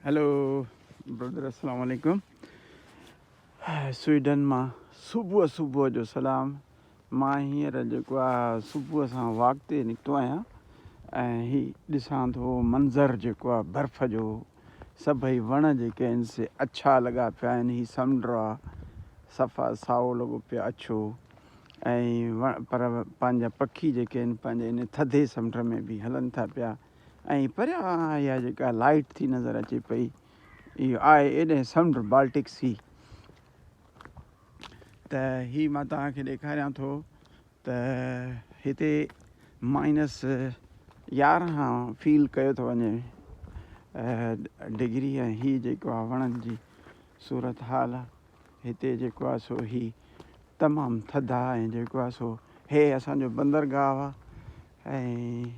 Hello brother السلام عليڪم Sweden مان صبح صبح جو سلام مان هينئر جيڪو آ صبح سان واڪ تي نڪتو آهيان ۽ هي ڏسان ٿو منظر جيڪو آ برف جو سڀئي وڻ جيڪي آهن سي اڇا لڳا پيا آهن هي سمنڊ آ صفا سائو لڳو پيو اڇو ۽ پر پنهنجا پکي جيڪي آهن پنهنجي ان ٿڌي سمنڊ ۾ به هلن ٿا پيا ۽ پريان اها جيڪا لائيٽ ٿي نظر اچي پئي اهو آهي ايڏهن سمنڊ بالٽڪ سي ته هي مان توهان کي ڏيکاريان ٿو ته هتي مائنس يارهن فيل ڪيو ٿو وڃي ڊگري ۽ هي جيڪو آهي وڻن جي صورت حال هتي جيڪو آهي سو هي تمام ٿڌا ۽ جيڪو آهي سو هي اسانجو بندرگاهه آهي ۽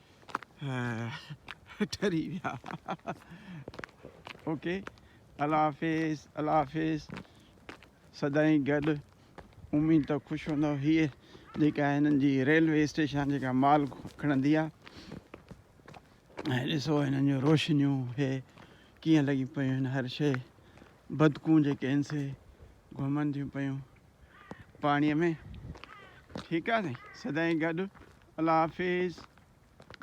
ٺري ويا اوڪي الله حافظ الله حافظ سدائين گڏ اميد تو خوش هوندو هي جيڪا هنن جي ريلوي اسٽيشن جيڪا مال کڻندي آ ۽ ڏسو هنن جو روشنيون هي ڪيئن لڳي پيون هن هر شي بدڪون جيڪي ان سي گهمن ٿيون پيون پاڻي ۾ ٺيڪ آ سائين سدائين گڏ الله حافظ.